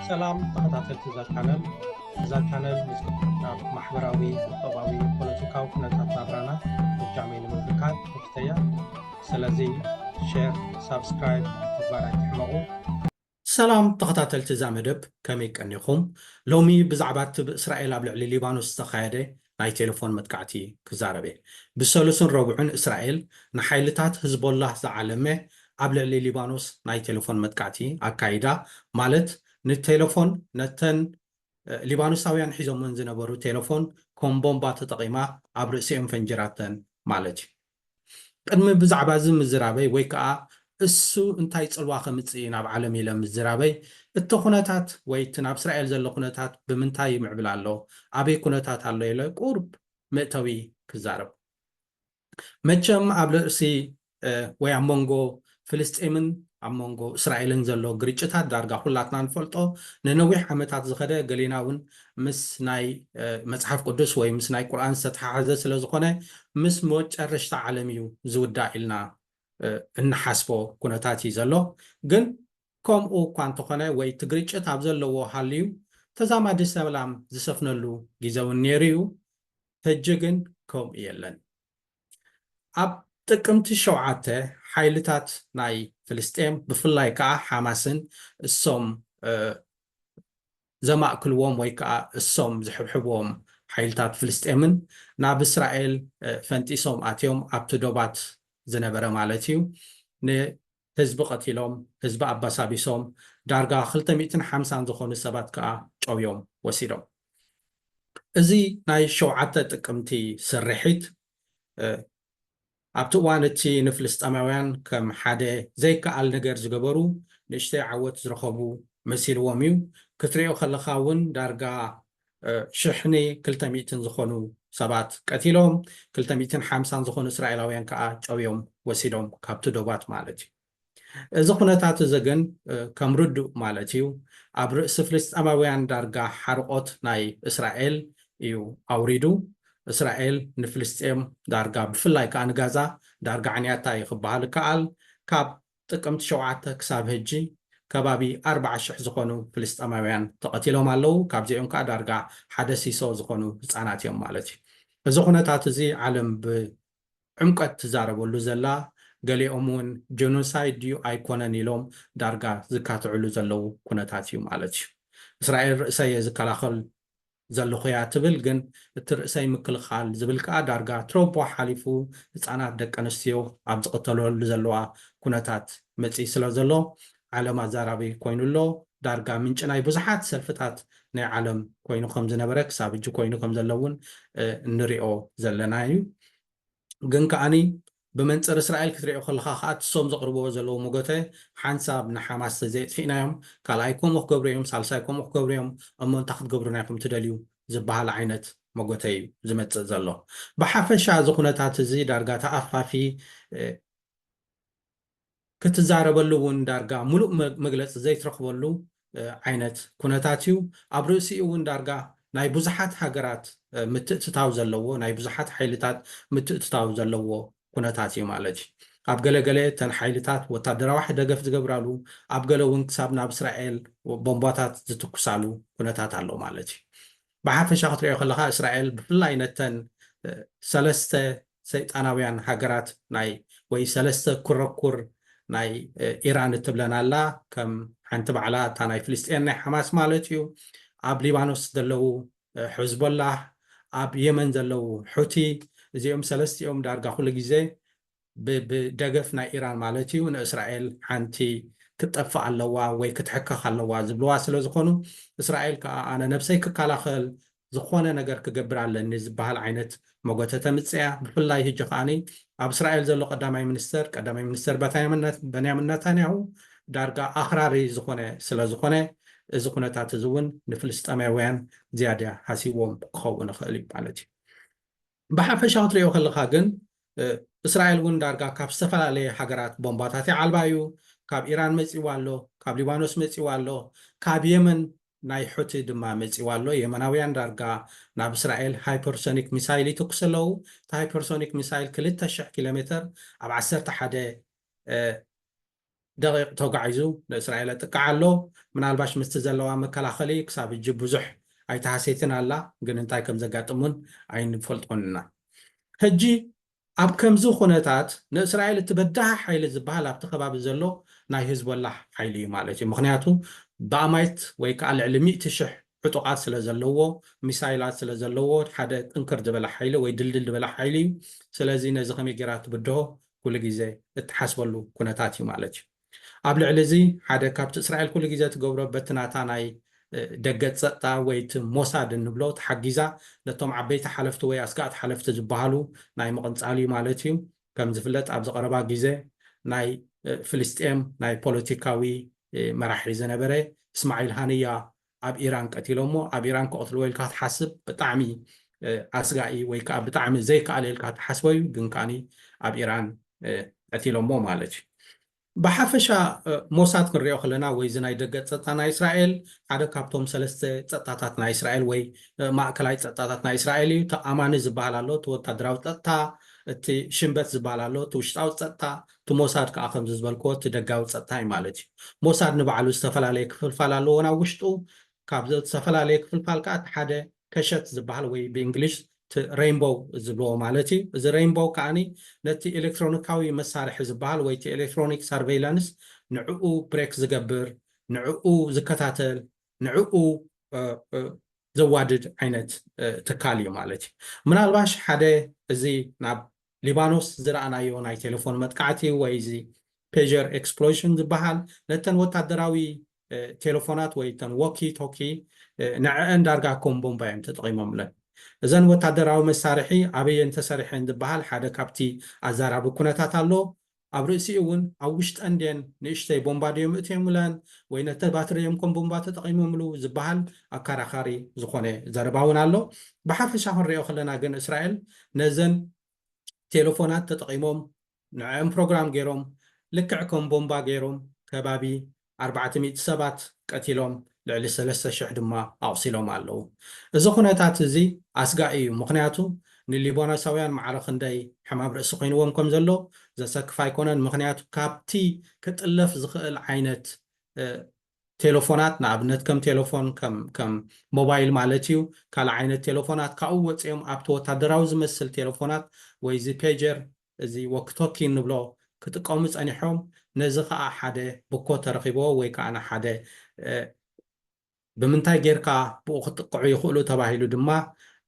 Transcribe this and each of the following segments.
ሰላም ተኸታተልቲ እዛ ቻነል እዛ ቻነል ምስ ናብ ማሕበራዊ ቁጠባዊ ፖለቲካዊ ኩነታት ናብራና ብጃመይ ንምብርካት ተፍተያ ስለዚ ሼር ሳብስክራይብ ምግባር ኣይትሕመቑ ሰላም ተኸታተልቲ እዛ መደብ ከመይ ቀኒኹም ሎሚ ብዛዕባ እቲ ብእስራኤል ኣብ ልዕሊ ሊባኖስ ዝተኻየደ ናይ ቴለፎን መጥቃዕቲ ክዛረብ እየ። ብሰሉስን ረቡዕን እስራኤል ንሓይልታት ህዝቦላህ ዝዓለመ ኣብ ልዕሊ ሊባኖስ ናይ ቴለፎን መጥቃዕቲ ኣካይዳ፣ ማለት ንቴለፎን ነተን ሊባኖሳውያን ሒዞመን ዝነበሩ ቴለፎን ከም ቦምባ ተጠቒማ ኣብ ርእሲኦም ፈንጂራተን ማለት እዩ። ቅድሚ ብዛዕባ እዚ ምዝራበይ ወይ ከኣ እሱ እንታይ ጽልዋ ከምጽእ እዩ ናብ ዓለም ኢለ ምዝራበይ እቲ ኩነታት ወይ እቲ ናብ እስራኤል ዘሎ ኩነታት ብምንታይ ይምዕብል ኣሎ ኣበይ ኩነታት ኣሎ ኢለ ቁርብ መእተዊ ክዛረብ መቸም ኣብ ርእሲ ወይ ኣብ መንጎ ፍልስጤምን ኣብ መንጎ እስራኤልን ዘሎ ግርጭታት ዳርጋ ኩላትና ንፈልጦ ንነዊሕ ዓመታት ዝኸደ ገሌና ውን ምስ ናይ መጽሓፍ ቅዱስ ወይ ምስ ናይ ቁርኣን ዝተተሓሓዘ ስለ ዝኾነ ምስ መጨረሽታ ዓለም እዩ ዝውዳእ ኢልና እንሓስቦ ኩነታት እዩ ዘሎ ግን ከምኡ እኳ እንተኾነ ወይ እቲ ግርጭት ኣብ ዘለዎ ሃልዩ ተዛማዲ ሰላም ዝሰፍነሉ ጊዘ ውን ኔሩ እዩ ሕጂ ግን ከምኡ የለን። ኣብ ጥቅምቲ ሸውዓተ ሓይልታት ናይ ፍልስጤም ብፍላይ ከኣ ሓማስን እሶም ዘማእክልዎም ወይ ከኣ እሶም ዝሕብሕብዎም ሓይልታት ፍልስጤምን ናብ እስራኤል ፈንጢሶም ኣትዮም ኣብቲ ዶባት ዝነበረ ማለት እዩ ን ህዝቢ ቀቲሎም፣ ህዝቢ ኣባሳቢሶም፣ ዳርጋ ክልተ ሚእትን ሓምሳን ዝኾኑ ሰባት ከኣ ጨውዮም ወሲዶም። እዚ ናይ ሸውዓተ ጥቅምቲ ስርሒት ኣብቲ እዋን እቲ ንፍልስጠማውያን ከም ሓደ ዘይከኣል ነገር ዝገበሩ ንእሽተይ ዓወት ዝረኸቡ መሲልዎም እዩ። ክትሪኦ ከለኻ እውን ዳርጋ ሽሕን ክልተ ሚእትን ዝኾኑ ሰባት ቀቲሎም፣ ክልተ ሚእትን ሓምሳን ዝኾኑ እስራኤላውያን ከኣ ጨውዮም ወሲዶም፣ ካብቲ ዶባት ማለት እዩ። እዚ ኩነታት እዚ ግን ከም ርዱእ ማለት እዩ ኣብ ርእሲ ፍልስጤማውያን ዳርጋ ሓርቖት ናይ እስራኤል እዩ ኣውሪዱ። እስራኤል ንፍልስጤም ዳርጋ ብፍላይ ከኣ ንጋዛ ዳርጋ ኣዕንያታ እዩ ክበሃል እከኣል። ካብ ጥቅምቲ ሸውዓተ ክሳብ ህጂ ከባቢ ኣርብዓ ሽሕ ዝኾኑ ፍልስጠማውያን ተቐቲሎም ኣለው፣ ካብዚኦም ከኣ ዳርጋ ሓደ ሲሶ ዝኾኑ ህጻናት እዮም ማለት እዩ። እዚ ኩነታት እዚ ዓለም ብዕምቆት ትዛረበሉ ዘላ፣ ገሊኦም እውን ጀኖሳይድ ድዩ ኣይኮነን ኢሎም ዳርጋ ዝካትዕሉ ዘለው ኩነታት እዩ ማለት እዩ። እስራኤል ርእሰ እየ ዝከላኸል ዘለኹ'ያ ትብል ግን እቲ ርእሰይ ምክልኻል ዝብል ከኣ ዳርጋ ትሮቦ ሓሊፉ ህጻናት ደቂ ኣንስትዮ ኣብ ዝቕተለሉ ዘለዋ ኩነታት መጺኡ ስለ ዘሎ ዓለም ኣዛራቢ ኮይኑ ኣሎ ዳርጋ ምንጪ ናይ ብዙሓት ሰልፍታት ናይ ዓለም ኮይኑ ከም ዝነበረ ክሳብ ሕጂ ኮይኑ ከም ዘሎ'ውን እንሪኦ ዘለና'ዩ። ግን ከኣ ብመንጽር እስራኤል ክትሪኦ ከለኻ ከኣ ትሶም ዘቕርብዎ ዘለዉ መጎተ ሓንሳብ ንሓማስ ተዘየጥፊእናዮም ካልኣይ ከምኡ ክገብሩ እዮም ሳልሳይ ከምኡ ክገብሩ እዮም እሞ እንታይ ክትገብሩና ኢኹም ትደልዩ ዝበሃል ዓይነት መጎተ እዩ ዝመጽእ ዘሎ ብሓፈሻ እዚ ኩነታት እዚ ዳርጋ ተኣፋፊ ክትዛረበሉ እውን ዳርጋ ምሉእ መግለፂ ዘይትረኽበሉ ዓይነት ኩነታት እዩ። ኣብ ርእሲኡ እውን ዳርጋ ናይ ብዙሓት ሃገራት ምትእትታው ዘለዎ፣ ናይ ብዙሓት ሓይልታት ምትእትታው ዘለዎ ኩነታት እዩ ማለት እዩ። ኣብ ገለ ገለ እተን ሓይልታት ወታደራዊ ደገፍ ዝገብራሉ፣ ኣብ ገለ እውን ክሳብ ናብ እስራኤል ቦምባታት ዝትኩሳሉ ኩነታት ኣሎ ማለት እዩ። ብሓፈሻ ክትሪኦ ከለኻ እስራኤል ብፍላይ ነተን ሰለስተ ሰይጣናውያን ሃገራት ናይ ወይ ሰለስተ ኩረኩር ናይ ኢራን እትብለን ኣላ ከም ሓንቲ ባዕላ እታ ናይ ፍልስጤን ናይ ሓማስ ማለት እዩ ኣብ ሊባኖስ ዘለዉ ሕዝቦላህ ኣብ የመን ዘለዉ ሑቲ እዚኦም ሰለስቲኦም ዳርጋ ኩሉ ግዜ ብደገፍ ናይ ኢራን ማለት እዩ ንእስራኤል ሓንቲ ክትጠፍእ ኣለዋ ወይ ክትሕከኽ ኣለዋ ዝብልዋ ስለዝኾኑ እስራኤል ከኣ ኣነ ነብሰይ ክከላኸል ዝኾነ ነገር ክገብር ኣለኒ ዝበሃል ዓይነት መጎተ ተምጽእያ ብፍላይ ህጂ ከኣ ኣብ እስራኤል ዘሎ ቀዳማይ ሚኒስተር ቀዳማይ ሚኒስተር በንያምን ነታንያሁ ዳርጋ ኣኽራሪ ዝኾነ ስለዝኾነ እዚ ኩነታት እዚ እውን ንፍልስጠማውያን ዝያዳ ሃሲዎም ክኸውን ይኽእል እዩ ማለት እዩ ብሓፈሻ ክትርእዮ ከለኻ ግን እስራኤል እውን ዳርጋ ካብ ዝተፈላለየ ሃገራት ቦምባታት ይዓልባ እዩ። ካብ ኢራን መጺእዋ ኣሎ፣ ካብ ሊባኖስ መጺእዋ ኣሎ፣ ካብ የመን ናይ ሑቲ ድማ መጺእዋ ኣሎ። የመናውያን ዳርጋ ናብ እስራኤል ሃይፐርሶኒክ ሚሳይል ይትኩሱ ኣለዉ። እቲ ሃይፐርሶኒክ ሚሳይል ክልተ ሽሕ ኪሎሜተር ኣብ ዓሰርተ ሓደ ደቒቕ ተጓዒዙ ንእስራኤል ኣጥቅዓ ኣሎ። ምናልባሽ ምስቲ ዘለዋ መከላኸሊ ክሳብ ሕጂ ብዙሕ ኣይተሃስየትን ኣላ፣ ግን እንታይ ከም ዘጋጥም እውን ኣይንፈልጦን ኢና። ሕጂ ኣብ ከምዚ ኩነታት ንእስራኤል እቲ በዳሂ ሓይሊ ዝበሃል ኣብቲ ከባቢ ዘሎ ናይ ህዝቦላህ ሓይሊ እዩ ማለት እዩ። ምኽንያቱ ብኣማኢት ወይ ከኣ ልዕሊ ሚእቲ ሽሕ ዕጡቓት ስለ ዘለዎ፣ ሚሳይላት ስለ ዘለዎ ሓደ ጥንክር ዝበለ ሓይሊ ወይ ድልድል ዝበለ ሓይሊ እዩ። ስለዚ ነዚ ከመይ ገይራ ትብድሆ ኩሉ ግዜ እትሓስበሉ ኩነታት እዩ ማለት እዩ። ኣብ ልዕሊ እዚ ሓደ ካብቲ እስራኤል ኩሉ ግዜ ትገብሮ በቲ ናታ ናይ ደገ ጸጥታ ወይ እቲ ሞሳድ እንብሎ ተሓጊዛ ነቶም ዓበይቲ ሓለፍቲ ወይ ኣስጋእቲ ሓለፍቲ ዝበሃሉ ናይ ምቕንጻል እዩ ማለት እዩ። ከም ዝፍለጥ ኣብዚ ቀረባ ግዜ ናይ ፍልስጤም ናይ ፖለቲካዊ መራሒ ዝነበረ እስማዒል ሃንያ ኣብ ኢራን ቀቲሎሞ ኣብ ኢራን ክቀትልዎ ኢልካ ትሓስብ ብጣዕሚ ኣስጋኢ ወይ ከዓ ብጣዕሚ ዘይከኣል ኢልካ ትሓስቦ እዩ ግን ከዓኒ ኣብ ኢራን ቀቲሎሞ ማለት እዩ ብሓፈሻ ሞሳድ ክንሪኦ ከለና ወይ እዚ ናይ ደገ ፀጥታ ናይ እስራኤል ሓደ ካብቶም ሰለስተ ፀጥታታት ናይ እስራኤል ወይ ማእከላይ ፀጥታታት ናይ እስራኤል እዩ ተኣማኒ ዝበሃል ኣሎ እቲ ወታደራዊ ፀጥታ እቲ ሽንበት ዝበሃል ኣሎ እቲ ውሽጣዊ ፀጥታ እቲ ሞሳድ ከኣ ከምዚ ዝበልክዎ እቲ ደጋዊ ጸጥታ እዩ ማለት እዩ። ሞሳድ ንባዕሉ ዝተፈላለየ ክፍልፋል ኣለዎ ናብ ውሽጡ። ካብዚ እተፈላለየ ክፍልፋል ከኣ እቲ ሓደ ከሸት ዝበሃል ወይ ብእንግሊሽ እቲ ረይንቦው ዝብልዎ ማለት እዩ። እዚ ረይንቦው ከኣ ነቲ ኤለክትሮኒካዊ መሳርሒ ዝበሃል ወይ እቲ ኤለክትሮኒክ ሰርቨይላንስ ንዕኡ ብሬክ ዝገብር፣ ንዕኡ ዝከታተል፣ ንዕኡ ዘዋድድ ዓይነት ትካል እዩ ማለት እዩ። ምናልባሽ ሓደ እዚ ናብ ሊባኖስ ዝረኣናዮ ናይ ቴለፎን መጥቃዕቲ ወይ እዚ ፔጀር ኤክስፕሎይሽን ዝበሃል ነተን ወታደራዊ ቴለፎናት ወይ እተን ዎኪ ቶኪ ንዐዐን ዳርጋ ከም ቦምባ እዮም ተጠቒሞምለን። እዘን ወታደራዊ መሳርሒ ኣበየን ተሰሪሐን ዝበሃል ሓደ ካብቲ ኣዛራቢ ኩነታት ኣሎ። ኣብ ርእሲኡ እውን ኣብ ውሽጠን ድየን ንእሽተይ ቦምባ ድዮም እእትዮምለን ወይ ነቲ ባትሪ እዮም ከም ቦምባ ተጠቒሞምሉ ዝበሃል ኣካራኻሪ ዝኾነ ዘረባ እውን ኣሎ። ብሓፈሻ ክንሪኦ ከለና ግን እስራኤል ነዘን ቴለፎናት ተጠቒሞም ንዐኣን ፕሮግራም ገይሮም ልክዕ ከም ቦምባ ገይሮም ከባቢ ኣርባዕተ ሚእቲ ሰባት ቀቲሎም ልዕሊ ሰለስተ ሽሕ ድማ ኣቑሲሎም ኣለዉ። እዚ ኩነታት እዚ ኣስጋኢ እዩ፣ ምኽንያቱ ንሊባኖሳውያን ማዕረ ክንደይ ሕማም ርእሲ ኮይንዎም ከም ዘሎ ዘሰክፍ ኣይኮነን፣ ምኽንያቱ ካብቲ ክጥለፍ ዝኽእል ዓይነት ቴለፎናት፣ ንኣብነት ከም ቴለፎን ከም ሞባይል ማለት እዩ፣ ካልእ ዓይነት ቴለፎናት ካብኡ ወጺኦም ኣብቲ ወታደራዊ ዝመስል ቴለፎናት ወይ እዚ ፔጀር እዚ ዎኪቶኪ እንብሎ ክጥቀሙ ጸኒሖም፣ ነዚ ከኣ ሓደ ብኮ ተረኺብዎ ወይ ከኣ ንሓደ ብምንታይ ጌርካ ብኡ ክጥቅዑ ይኽእሉ ተባሂሉ ድማ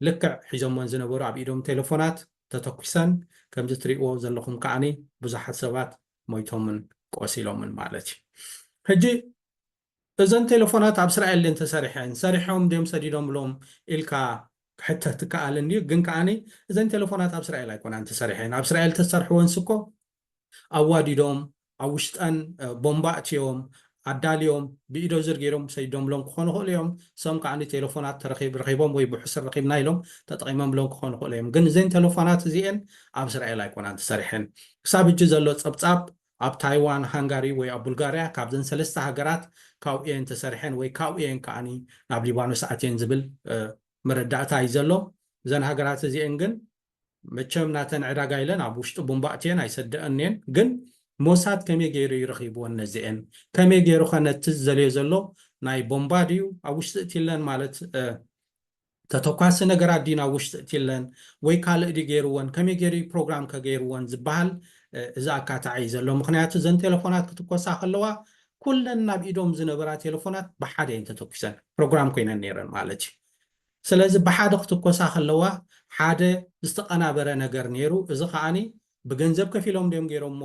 ልክዕ ሒዞሞን ዝነበሩ ኣብ ኢዶም ቴለፎናት ተተኲሰን፣ ከምዚ ትሪእዎ ዘለኹም ከኣ ብዙሓት ሰባት ሞይቶምን ቆሲሎምን ማለት እዩ። ሕጂ እዘን ቴለፎናት ኣብ እስራኤል ድየን ተሰሪሐን ሰሪሖም ድዮም ሰዲዶምሎም ኢልካ ክሕተት ይከኣል እንድዩ ግን ከኣ እዘን ቴለፎናት ኣብ እስራኤል ኣይኮናን ተሰሪሐን ኣብ እስራኤል ተዝሰርሕወንስ እኮ ኣዋዲዶም ኣብ ውሽጠን ቦምባ ኣእትዮም ኣዳልዮም ብኢዶዝር ገይሮም ሰዲዶምሎም ክኾኑ ይኽእሉ እዮም ሰም ከኣ ቴለፎናት ተረኺብ ረኺቦም ወይ ብሕሱር ረኺብና ኢሎም ተጠቒሞምሎም ክኾኑ ይኽእሉ እዮም ግን እዘን ቴለፎናት እዚኤን ኣብ እስራኤል ኣይኮናን ተሰሪሐን ክሳብ ሕጂ ዘሎ ጸብጻብ ኣብ ታይዋን፣ ሃንጋሪ ወይ ኣብ ቡልጋርያ ካብዘን ሰለስተ ሃገራት ካብኡ እየን ተሰሪሐን ወይ ካብኡ እየን ከኣ ናብ ሊባኖስ ኣትየን ዝብል መረዳእታ እዩ ዘሎ። እዘን ሃገራት እዚኤን ግን መቸም ናተን ዕዳጋ ኢለን ኣብ ውሽጢ ቡምባ ኣእትየን ኣይሰደኣኦን እየን። ግን ሞሳድ ከመይ ገይሩ እዩ ረኺብወን ነዚኤን? ከመይ ገይሩኸ ነቲ ዝደልዮ ዘሎ ናይ ቦምባ ድዩ ኣብ ውሽጢ እትይለን ማለት ተተኳሲ ነገራት ድዩ ናብ ውሽጢ እትለን ወይ ካልእ ድዩ ገይርወን ከመይ ገይሩ እዩ ፕሮግራም ከ ገይርወን ዝበሃል እዚ ኣካታዒ እዩ ዘሎ ምኽንያቱ እዘን ቴለፎናት ክትኮሳ ከለዋ ኩለን ናብ ኢዶም ዝነበራ ቴለፎናት ብሓደ እየን ተተኲሰን ፕሮግራም ኮይነን ነይረን ማለት እዩ ስለዚ ብሓደ ክትኮሳ ከለዋ ሓደ ዝተቐናበረ ነገር ነይሩ እዚ ከዓኒ ብገንዘብ ከፊሎም ድዮም ጌሮሞ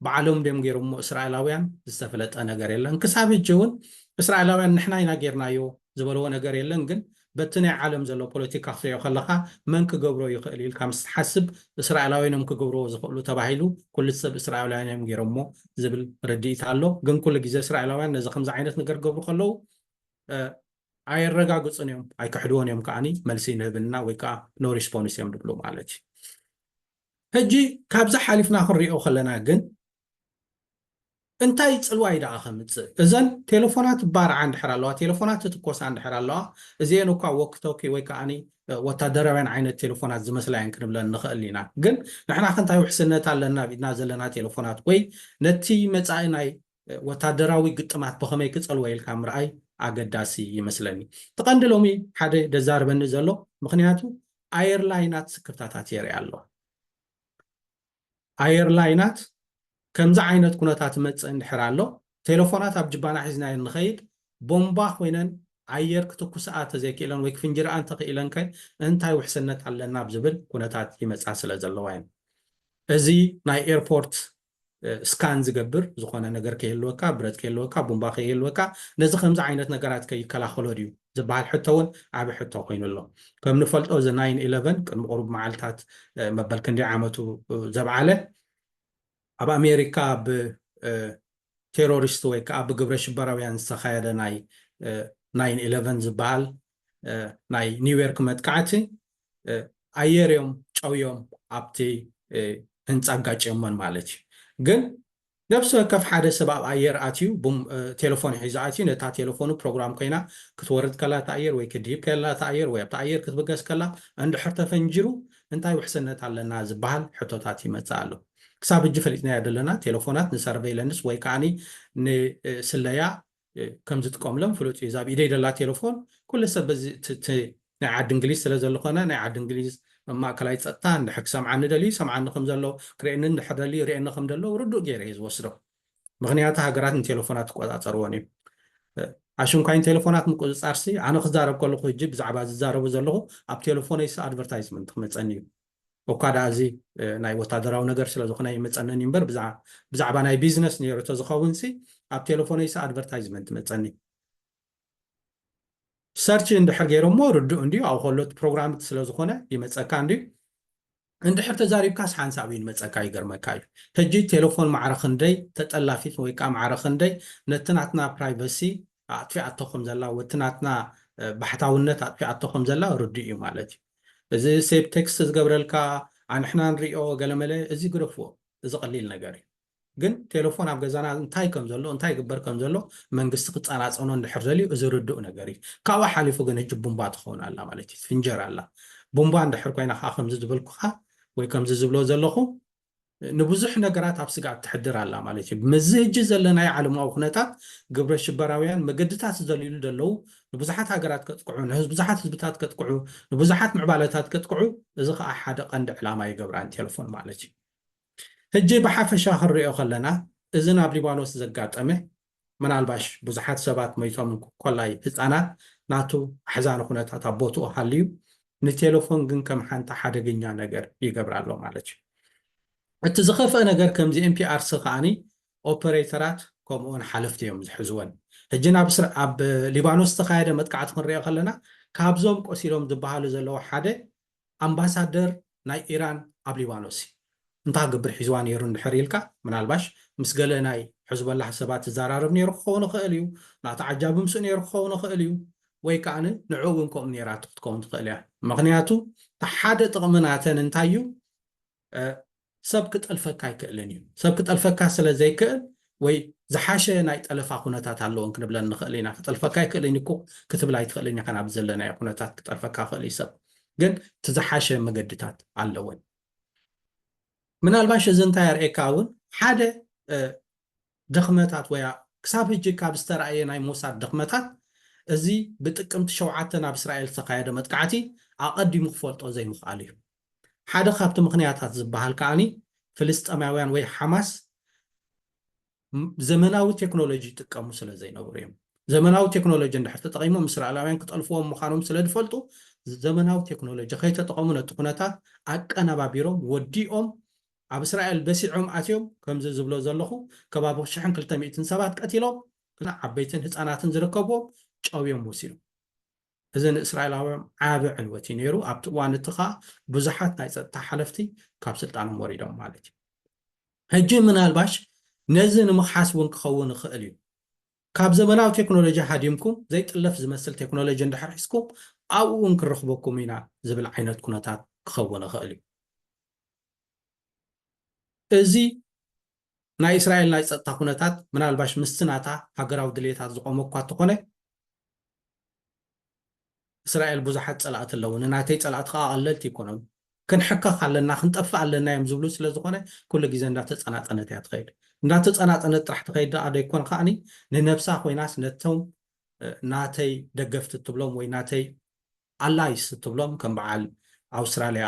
ብዓሎም ድዮም ጌሮሞ እስራኤላውያን ዝተፈለጠ ነገር የለን ክሳብ ህጂ እውን እስራኤላውያን ንሕና ኢና ጌርናዮ ዝበልዎ ነገር የለን ግን በቲ ናይ ዓለም ዘሎ ፖለቲካ ክትሪኦ ከለኻ መን ክገብሮ ይኽእል ኢልካ ምስ ትሓስብ እስራኤላውያን እዮም ክገብርዎ ዝኽእሉ ተባሂሉ ኩሉ ሰብ እስራኤላውያን እዮም ጌሮሞ ዝብል ርድኢት ኣሎ ግን ኩሉ ግዜ እስራኤላውያን ነዚ ከምዚ ዓይነት ነገር ገብሩ ከለዉ ኣየረጋግፁን እዮም ኣይክሕድዎን እዮም ከዓኒ መልሲ ንህብና ወይ ከዓ ኖ ሪስፖንስ እዮም ዝብሉ ማለት እዩ ሕጂ ካብዚ ሓሊፍና ክንሪኦ ከለና ግን እንታይ ጽልዋ'ዩ ደኣ ከምጽእ? እዘን ቴለፎናት ባርዓ እንድሕር ኣለዋ፣ ቴለፎናት ይትኮሳ እንድሕር ኣለዋ፣ እዚኤን እኳ ዎኪ ቶኪ ወይ ከኣኒ ወታደራውያን ዓይነት ቴለፎናት ዝመስላ እየን ክንብለን ንኽእል ኢና። ግን ንሕናኸ እንታይ ውሕስነት ኣለና ኣብ ኢድና ዘለና ቴለፎናት? ወይ ነቲ መጻኢ ናይ ወታደራዊ ግጥማት ብኸመይ ክጸልዎ ኢልካ ምርኣይ ኣገዳሲ ይመስለኒ። እቲ ቀንዲ ሎሚ ሓደ ደዛርበኒ ዘሎ ምኽንያቱ ኣየር ላይናት ስክፍታታት የርኢ ኣሎ። ኣየር ላይናት ከምዚ ዓይነት ኩነታት ይመጽእ እንድሕር ኣሎ ቴለፎናት ኣብ ጅባና ሒዝናየን ንኸይድ ቦምባ ኮይነን ኣየር ክትኩስኣ ተዘይክኢለን ወይ ክፍንጅርኣ እንተኽኢለን ከ እንታይ ውሕስነት ኣለና ኣብ ዝብል ኩነታት ይመጻ ስለ ዘለዋ እየን። እዚ ናይ ኤርፖርት ስካን ዝገብር ዝኾነ ነገር ከይህልወካ፣ ብረት ከይህልወካ፣ ቡምባ ከይህልወካ፣ ነዚ ከምዚ ዓይነት ነገራት ከ ይከላኸሎ ድዩ ዝብሃል ሕቶ እውን ዓቢ ሕቶ ኮይኑ ኣሎ። ከም ንፈልጦ እዚ ናይን ኢለቨን ቅድሚ ቁሩብ መዓልታት መበል ክንደይ ዓመቱ ዘብዓለ ኣብ ኣሜሪካ ብ ቴሮሪስት ወይ ከዓ ብግብረ ሽበራውያን ዝተኻየደ ናይ ናይን ኢለቨን ዝበሃል ናይ ኒውዮርክ መጥቃዕቲ ኣየር እዮም ጨውዮም ኣብቲ ህንፃ ኣጋጭዮሞን ማለት እዩ ግን ነብሲ ወከፍ ሓደ ሰብ ኣብ ኣየር ኣትዩ ቴለፎን ሒዙ ኣትዩ ነታ ቴለፎኑ ፕሮግራም ኮይና ክትወርድ ከላ እቲ ኣየር ወይ ክትድይብ ከላ እቲ ኣየር ወይ ኣብቲ ኣየር ክትብገስ ከላ እንድሕር ተፈንጂሩ እንታይ ውሕስነት ኣለና ዝበሃል ሕቶታት ይመፅእ ኣሎ ክሳብ ሕጂ ፈሊጥናዮ ዘለና ቴለፎናት ንሰርቨይለንስ ወይ ከዓኒ ንስለያ ከም ዝጥቀምሎም ፍሉጥ እዩ። እዛ ኣብ ኢደይ ዘላ ቴለፎን ኩሉ ሰብ በዚ እቲ እቲ ናይ ዓዲ እንግሊዝ ስለ ዘልኾነ ናይ ዓዲ እንግሊዝ ማእከላይ ጸጥታ እንድሕር ክሰምዓኒ ደልዩ ይሰምዓኒ ከም ዘሎ ክርእየኒ እንድሕር ደልዩ ይርእየኒ ከም ዘሎ ርዱእ ገይረ እየ ዝወስዶ። ምኽንያቱ ሃገራት ንቴለፎናት ይቆጻጸርወን እዩ። ኣሽንኳይ ንቴለፎናት ምቁጽጻርሲ ኣነ ክዛረብ ከለኹ ህጂ ብዛዕባ ዝዛረቦ ዘለኹ ኣብ ቴለፎነይሲ ኣድቨርታይዝመንት ክመጸኒ እዩ። እኳ ድኣ እዚ ናይ ወታደራዊ ነገር ስለ ዝኹነ ኣይመጸንን እዩ እምበር ብዛዕባ ናይ ቢዝነስ ነይሩ ተዝኸውንሲ ኣብ ቴለፎነይሲ ኣድቨርታይዝመንት መጸኒ ሰርች እንድሕር ገይሮሞ ርዱእ እንድዩ ኣብኡ ከሎ እቲ ፕሮግራም ስለ ዝኾነ ይመጸካ እንድዩ እንድሕር ተዛሪብካስ ሓንሳብ እዩ ንመጸካ ይገርመካ እዩ ሕጂ ቴሌፎን ማዕረ ክንደይ ተጠላፊት ወይ ከዓ ማዕረ ክንደይ ነቲ ናትና ፕራይቨሲ ኣጥፊኣቶ ከም ዘላ ወቲ ናትና ባሕታውነት ኣጥፊኣቶ ከም ዘላ ርዱእ እዩ ማለት እዩ እዚ ሴብ ቴክስት ዝገብረልካ ኣንሕና ንሪኦ ገለመለ እዚ ግደፍዎ እዚ ቀሊል ነገር እዩ ግን ቴለፎን ኣብ ገዛና እንታይ ከም ዘሎ እንታይ ይግበር ከም ዘሎ መንግስቲ ክጻናጸኖ እንድሕር ደልዩ እዚ ርዱእ ነገር እዩ ካብኡ ሓሊፉ ግን ህጂ ቡምባ ትኸውን ኣላ ማለት እዩ ትፍንጀር ኣላ ቡምባ እንድሕር ኮይና ከኣ ከምዚ ዝበልኩኻ ወይ ከምዚ ዝብሎ ዘለኹ ንብዙሕ ነገራት ኣብ ስግኣት ተሕድር ኣላ ማለት እዩ። ምስዚ ህጂ ዘለናዮ ዓለማዊ ኩነታት ግብረ ሽበራውያን መገድታት ዝደልዩሉ ዘለዉ ንብዙሓት ሃገራት ከጥቅዑ፣ ንብዙሓት ህዝብታት ከጥቅዑ፣ ንብዙሓት ምዕባለታት ከጥቅዑ፣ እዚ ከኣ ሓደ ቀንዲ ዕላማ ይገብራን ቴለፎን ማለት እዩ። ህጂ ብሓፈሻ ክንርእዮ ከለና እዚ ናብ ሊባኖስ ዘጋጠመ ምናልባሽ ብዙሓት ሰባት መይቶም ኮላይ ህጻናት ናቱ ኣሕዛኒ ኩነታት ኣብ ቦትኡ ሃልዩ ንቴለፎን ግን ከም ሓንቲ ሓደገኛ ነገር ይገብራ ኣሎ ማለት እዩ። እቲ ዝኸፍኣ ነገር ከምዚ NPRC ከኣ ኦፐረይተራት ከምኡውን ሓለፍቲ እዮም ዝሕዝወን። ሕጂ ናብ ኣብ ሊባኖስ ዝተኻየደ መጥቃዕቲ ክንሪኦ ከለና ካብዞም ቆሲሎም ዝበሃሉ ዘለዉ ሓደ ኣምባሳደር ናይ ኢራን ኣብ ሊባኖስ እዩ እንታይ ክገብር ሒዝዋ ነይሩ እንድሕር ኢልካ ምናልባሽ ምስ ገለ ናይ ሕዝቦላህ ሰባት ይዘራረብ ነይሩ ክኸውን ይኽእል እዩ ናቱ ዓጃቢ ምስኡ ነይሩ ክኸውን ይኽእል እዩ ወይ ከኣ ንዕኡ እውን ከምኡ ነይራቶ ክትከውን ትኽእል እያ ምኽንያቱ እቲ ሓደ ጥቕሚ ናተን እንታይ እዩ ሰብ ክጠልፈካ ኣይክእልን እዩ። ሰብ ክጠልፈካ ስለ ዘይክእል ወይ ዝሓሸ ናይ ጠለፋ ኩነታት ኣለዎን ክንብለን ንኽእል ኢና። ክጠልፈካ ኣይክእልን እዩ ክትብል ኣይትኽእልን ኢኻን ኣብ ዘለናዮ ኩነታት ክጠልፈካ ክእል እዩ ሰብ ግን እቲ ዝሓሸ መገድታት ኣለወን። ምናልባሽ እዚ እንታይ ኣርእየካ እውን ሓደ ድኽመታት ወይ ክሳብ ሕጂ ካብ ዝተረኣየ ናይ ሞሳድ ድኽመታት እዚ ብጥቅምቲ ሸውዓተ ናብ እስራኤል ዝተኻየደ መጥቃዕቲ ኣቐዲሙ ክፈልጦ ዘይምኽኣሉ እዩ። ሓደ ካብቲ ምኽንያታት ዝበሃል ከኣ ፍልስጤማውያን ወይ ሓማስ ዘመናዊ ቴክኖሎጂ ይጥቀሙ ስለ ዘይነበሩ እዮም። ዘመናዊ ቴክኖሎጂ እንድሕር ተጠቒሞም እስራኤላውያን ክጠልፍዎም ምዃኖም ስለ ዝፈልጡ ዘመናዊ ቴክኖሎጂ ከይተጠቐሙ ነቲ ኩነታት ኣቀነባቢሮም ወዲኦም ኣብ እስራኤል በሲዖም ኣትዮም ከምዚ ዝብሎ ዘለኹ ከባቢ ሽሕን ክልተ ሚእትን ሰባት ቀቲሎም ዓበይትን ህጻናትን ዝርከብዎም ጨውዮም ወሲዶም። እዚ ንእስራኤላውያም ዓቢ ዕንወት እዩ ነይሩ፣ ኣብቲ እዋን እቲ ኸኣ ብዙሓት ናይ ጸጥታ ሓለፍቲ ካብ ስልጣኖም ወሪዶም ማለት እዩ። ሕጂ ምናልባሽ ነዚ ንምኽሓስ እውን ክኸውን ይኽእል እዩ፣ ካብ ዘመናዊ ቴክኖሎጂ ሃዲምኩም ዘይጥለፍ ዝመስል ቴክኖሎጂ እንድሕር ሒዝኩም ኣብኡ እውን ክንረኽበኩም ኢና ዝብል ዓይነት ኩነታት ክኸውን ይኽእል እዩ። እዚ ናይ እስራኤል ናይ ጸጥታ ኩነታት ምናልባሽ ምስቲ ናታ ሃገራዊ ድልየታት ዝቖመ እኳ እተኾነ፣ እስራኤል ብዙሓት ጸላእቲ ኣለዉኒ፣ ናተይ ጸላእቲ ከኣ ቀለልቲ ኣይኮኑን፣ ክንሕከኽ ኣለና፣ ክንጠፍእ ኣለና እዮም ዝብሉ ስለ ዝኾነ ኩሉ ግዜ እንዳተጸናጸነት እያ ትኸይድ። እንዳተጸናጸነት ጥራሕ ትኸይድ ደኣ ዶ ኣይኮን ከኣ ንነብሳ ኮይናስ ነቶም ናተይ ደገፍቲ እትብሎም ወይ ናተይ ኣላይስ እትብሎም ከም በዓል ኣውስትራልያ፣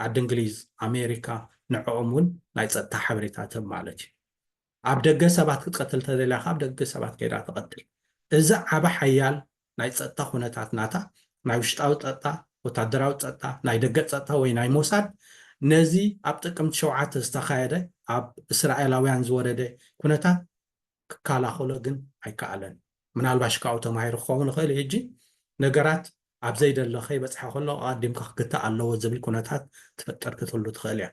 ዓዲ እንግሊዝ፣ ኣሜሪካ ንዕኦም እውን ናይ ጸጥታ ሓበሬታ ትህብ ማለት እዩ። ኣብ ደገ ሰባት ክትቀትል እንተደልያ ከኣ ኣብ ደገ ሰባት ከይዳ ትቐትል። እዚ ዓቢ ሓያል ናይ ጸጥታ ኩነታት ናታ፣ ናይ ውሽጣዊ ጸጥታ፣ ወታደራዊ ጸጥታ፣ ናይ ደገ ጸጥታ ወይ ናይ ሞሳድ ነዚ ኣብ ጥቅምቲ ሸውዓተ ዝተኻየደ ኣብ እስራኤላውያን ዝወረደ ኩነታት ክካላኸሎ ግን ኣይከኣለን። ምናልባሽ ካብኡ ተማሂሩ ክኸውን ይኽእል እዩ። ሕጂ ነገራት ኣብ ዘይደለ ከይበጽሐ ከሎ ኣቐዲምካ ክግታእ ኣለዎ ዝብል ኩነታት ትፍጠር ክትህሉ ትኽእል እያ።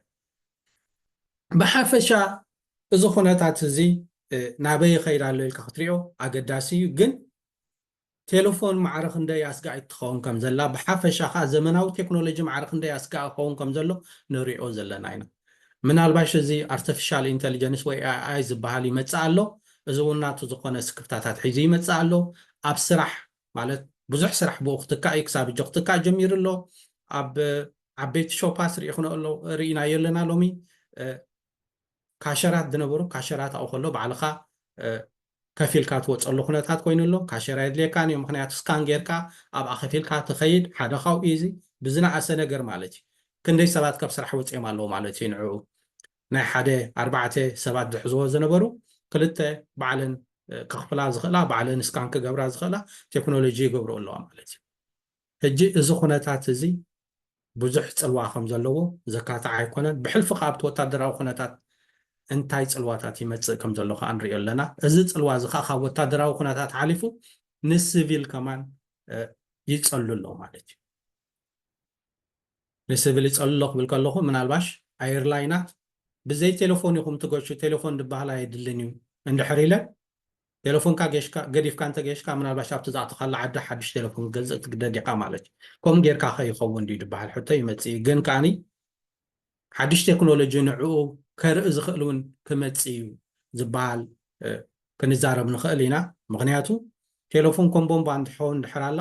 ብሓፈሻ እዚ ኩነታት እዚ ናበይ ይኸይድ ኣሎ ኢልካ ክትሪኦ ኣገዳሲ እዩ፣ ግን ቴለፎን ማዕረ ክንደይ ኣስጋኢት ትኸውን ከም ዘላ፣ ብሓፈሻ ከኣ ዘመናዊ ቴክኖሎጂ ማዕረ ክንደይ ኣስጋኢ ክኸውን ከም ዘሎ ንርእዮ ዘለና ኢና። ምናልባሽ እዚ ኣርተፊሻል ኢንተሊጀንስ ወይ AI ዝበሃል ይመጽእ ኣሎ፣ እዚ እውን ናቱ ዝኾነ ስክፍታታት ሒዙ ይመጽእ ኣሎ። ኣብ ስራሕ ማለት ብዙሕ ስራሕ ብኡ ክትካእ እዩ፣ ክሳብ ሕጂ ክትካእ ጀሚሩ ኣሎ። ኣብ ዓበይቲ ሾፓስ ርኢኽንኦ ኣሎ ርኢናዮ ኣለና ሎሚ። ካሸራት ዝነበሩ ካሸራት ኣብኡ ከሎ ባዕልኻ ከፊልካ ትወጸሉ ኩነታት ኮይኑ ኣሎ ካሸር ኣየድልየካን እዩ ምክንያቱ ስካን ገርካ ኣብኣ ከፊልካ ትከይድ ሓደ ካብኡ እዩ እዚ ብዝነኣሰ ነገር ማለት እዩ ክንደይ ሰባት ካብ ስራሕ ወጽዮም ኣለዉ ማለት እዩ ንዕኡ ናይ ሓደ ኣርባዕተ ሰባት ዝሕዝዎ ዝነበሩ ክልተ ባዕለን ከክፍላ ዝክእላ ባዕለን ስካን ክገብራ ዝክእላ ቴክኖሎጂ ይገብርኦ ኣለዋ ማለት እዩ። ሕጂ እዚ ኩነታት እዚ ብዙሕ ጽልዋ ከም ዘለዎ ዘካትዕ ኣይኮነን። ብሕልፊ ከኣ ኣብቲ ወታደራዊ ኩነታት እንታይ ጽልዋታት ይመጽእ ከም ዘሎ ከኣ ንርእዮ ኣለና። እዚ ጽልዋ እዚ ከኣ ካብ ወታደራዊ ኩነታት ሓሊፉ ንስቪል ከማን ይጸሉ ኣሎ ማለት እዩ። ንስቪል ይጸሉ ኣሎ ክብል ከለኹ ምናልባሽ ኣየርላይናት ብዘይ ቴለፎን ኢኹም ትገሹ፣ ቴለፎን ዝበሃል ኣየድልን እዩ እንድሕር ኢለን ቴለፎንካ ጌሽካ ገዲፍካ እንተ ጌሽካ ምናልባሽ ኣብቲ ዝኣተኻላ ዓዲ ሓድሽ ቴለፎን ክትገዝእ ክትግደድ ኢኻ ማለት እዩ። ከምኡ ጌርካ ከ ይኸውን ድዩ ድበሃል ሕቶ ይመጽእ እዩ። ግን ከኣ ሓድሽ ቴክኖሎጂ ንዕኡ ከርኢ ዝኽእል እውን ክመጽእ እዩ ዝበሃል ክንዛረብ ንኽእል ኢና። ምኽንያቱ ቴለፎን ከም ቦምባ እንትትኸውን እንድሕር ኣላ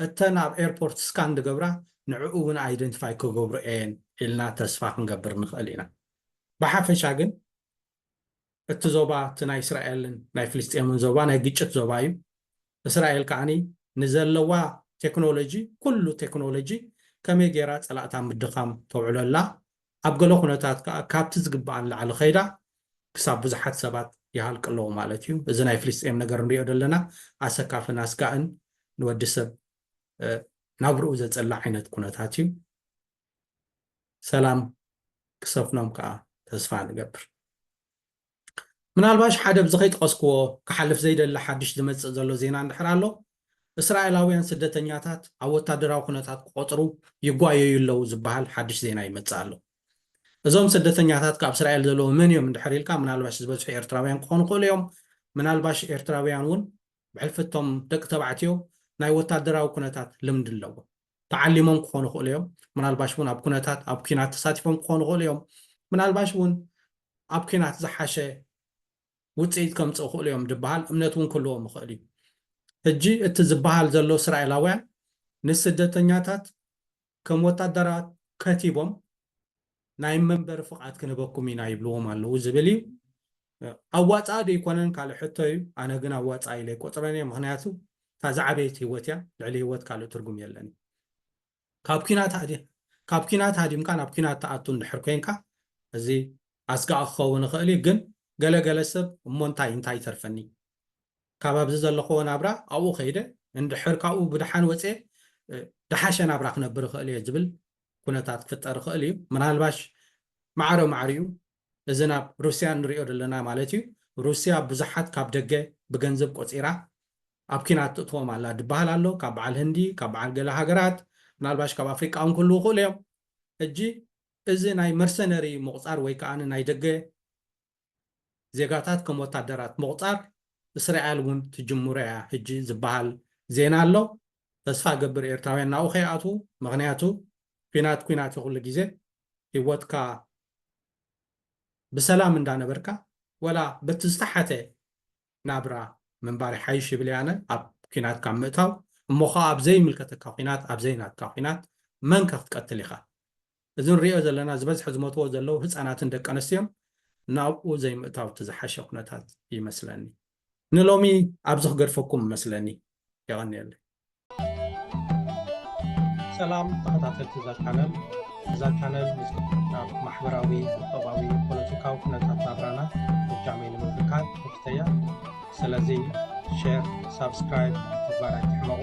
እተን ኣብ ኤርፖርት ስካን ዝገብራ ንዕኡ እውን ኣይደንቲፋይ ክገብርኦ እየን ኢልና ተስፋ ክንገብር ንኽእል ኢና። ብሓፈሻ ግን እቲ ዞባ እቲ ናይ እስራኤልን ናይ ፍልስጤምን ዞባ ናይ ግጭት ዞባ እዩ። እስራኤል ከዓኒ ንዘለዋ ቴክኖሎጂ ኩሉ ቴክኖሎጂ ከመይ ገይራ ፀላእታ ኣብ ምድኻም ተውዕሎ ኣላ። ኣብ ገለ ኩነታት ከኣ ካብቲ ዝግበኣ ንላዕሊ ከይዳ ክሳብ ብዙሓት ሰባት ይሃልቂ ኣለዉ ማለት እዩ። እዚ ናይ ፍልስጤም ነገር ንሪኦ ዘለና ኣሰካፍን ኣስጋእን ንወዲ ሰብ ናብርኡ ዘፅልእ ዓይነት ኩነታት እዩ። ሰላም ክሰፍኖም ከኣ ተስፋ ንገብር። ምናልባሽ ሓደ ኣብዚ ከይጠቐስክዎ ክሓልፍ ዘይደሊ ሓድሽ ዝመጽእ ዘሎ ዜና እንድሕር ኣሎ፣ እስራኤላውያን ስደተኛታት ኣብ ወታደራዊ ኩነታት ክቖጽሩ ይጓየዩ ኣለዉ ዝበሃል ሓድሽ ዜና ይመጽእ ኣሎ። እዞም ስደተኛታት ካብ እስራኤል ዘለዉ መን እዮም እንድሕር ኢልካ ምናልባሽ ዝበዝሑ ኤርትራውያን ክኾኑ ይኽእሉ እዮም። ምናልባሽ ኤርትራውያን እውን ብሕልፊ እቶም ደቂ ተባዕትዮ ናይ ወታደራዊ ኩነታት ልምዲ ኣለዎም። ተዓሊሞም ክኾኑ ይኽእሉ እዮም ምናልባሽ እውን ኣብ ኩነታት ኣብ ኩናት ተሳቲፎም ክኾኑ ይኽእሉ እዮም ምናልባሽ እውን ኣብ ኩናት ዝሓሸ ውፅኢት ከምፅእ ይኽእሉ እዮም ዝበሃል እምነት እውን ክህልዎም ይኽእል እዩ ሕጂ እቲ ዝበሃል ዘሎ እስራኤላውያን ንስደተኛታት ከም ወታደራት ከቲቦም ናይ መንበሪ ፍቓድ ክንህበኩም ኢና ይብልዎም ኣለዉ ዝብል እዩ። ኣዋፃኢ ዶ ኣይኮነን ካልእ ሕቶ እዩ። ኣነ ግን ኣዋፃኢ ኢለ ኣይቆፅረን እየ። ምኽንያቱ እታ ዝዓበየት ህይወት እያ። ልዕሊ ህይወት ካልእ ትርጉም የለን እዩ። ካብ ኲናት ካብ ኲናት ሃዲምካ ናብ ኲናት ትኣቱ እንድሕር ኮይንካ እዚ ኣስጋኢ ክኸውን ይኽእል እዩ። ግን ገለ ገለ ሰብ እሞ እንታይ እንታይ ይተርፈኒ ካብ ኣብዚ ዘለኹዎ ናብራ ኣብኡ ከይደ እንድሕር ካብኡ ብደሓን ወፅየ ደሓሸ ናብራ ክነብር ይኽእል እየ ዝብል ኩነታት ክፍጠር ይኽእል እዩ። ምናልባሽ ማዕረ ማዕሪኡ እዚ ናብ ሩስያ እንሪኦ ዘለና ማለት እዩ፣ ሩስያ ብዙሓት ካብ ደገ ብገንዘብ ቆፂራ ኣብ ኲናት ትእትዎም ኣላ ድበሃል ኣሎ፣ ካብ በዓል ህንዲ፣ ካብ በዓል ገለ ሃገራት፣ ምናልባሽ ካብ ኣፍሪቃ እውን ክህልዉ ይኽእሉ እዮም። ሕጂ እዚ ናይ መርሰነሪ ምቑፃር ወይ ከኣ ናይ ደገ ዜጋታት ከም ወታደራት ምቑጻር እስራኤል እውን ትጅምሮ እያ ሕጂ ዝብሃል ዜና ኣሎ። ተስፋ እገብር ኤርትራውያን ናብኡ ከይኣትዉ ምኽንያቱ ኲናት ኲናት እዩ ኩሉ ግዜ ሂወትካ ብሰላም እንዳ ነበርካ ወላ በቲ ዝተሓተ ናብራ ምንባር ይሓይሽ ይብል እየ ኣነ ኣብ ኲናት ካብ ምእታው እሞ ከኣ ኣብ ዘይምልከተካ ኲናት ኣብ ዘይናትካ ኲናት መን ከ ክትቀትል ኢኻ እዚ ንሪኦ ዘለና ዝበዝሐ ዝሞትዎ ዘለዉ ህፃናትን ደቂ ኣነስትዮን ናብኡ ዘይምእታው እቲ ዝሓሸ ኩነታት ይመስለኒ። ንሎሚ ኣብዚ ክገድፈኩም እመስለኒ የቐንየለይ። ሰላም ተኸታተልቲ እዛ ቻነል እዛ ቻነል ምስና ማሕበራዊ ቁጠባዊ ፖለቲካዊ ኩነታት ናብራና ብጃመይ ንምብርካት ትሕተያ ስለዚ ሼር ሳብስክራይብ ምግባር ኣይትሕመቑ